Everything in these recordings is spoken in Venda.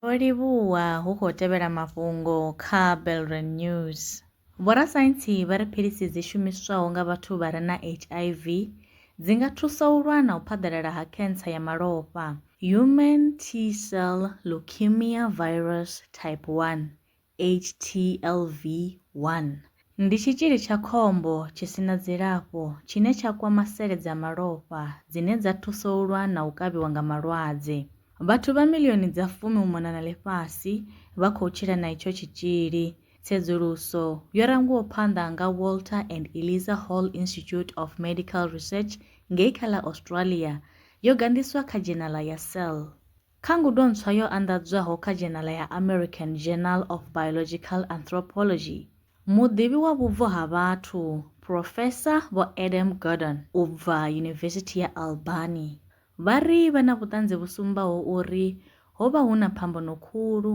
Ho livhuwa hu khou tevhela mafhungo kha Belren News. Vhorasaintsi vha ri philisi dzi shumiswaho nga vhathu vha re na HIV dzi nga thusa u lwa na u phaḓalala ha khentsa ya malofha, Human T-cell Leukemia Virus Type 1, HTLV, 1. Ndi tshitzhili tsha khombo tshi si na dzilafho tshine tsha kwama sele dza malofha dzine dza thusa u lwa na u kavhiwa nga malwadze. Vhathu vha milioni dza fumi u mona na ḽifhasi vha khou tshila na itsho tshitzhili. Tsedzuluso yo rangiwaho phanḓa nga Walter and Eliza Hall Institute of Medical Research ngei kha ḽa Australia yo gandiswa kha dzhenala ya Cell. Kha ngudo ntswa yo anḓadzwaho kha dzhenala ya American Journal of Biological Anthropology, muḓivhi wa vhubvo ha vhathu, Phurofesa Vho Adam Gordon u bva Yunivesithi ya Albany, vha ri vha na vhuṱanzi vhu sumbaho uri ho vha hu na phambano khulu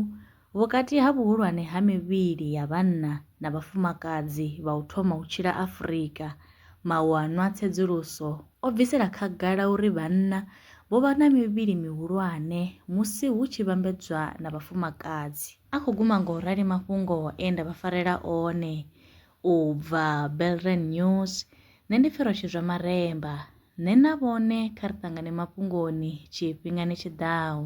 Vhukati ha vhuhulwane ha mivhili ya vhanna na vhafumakadzi vha u thoma u tshila Afrika, mawanwa a tsedzuluso o bvisela khagala uri vhanna vho vha na mivhili mihulwane musi hu tshi vhambedzwa na vhafumakadzi. A khou guma nga u rali mafhungo e nda vha farela one u bva Belrand News. Nṋe ndi pfi Roshidzwa Maremba. Nṋe na vhone kha ri ṱangane mafhungoni tshifhingani tshi ḓaho.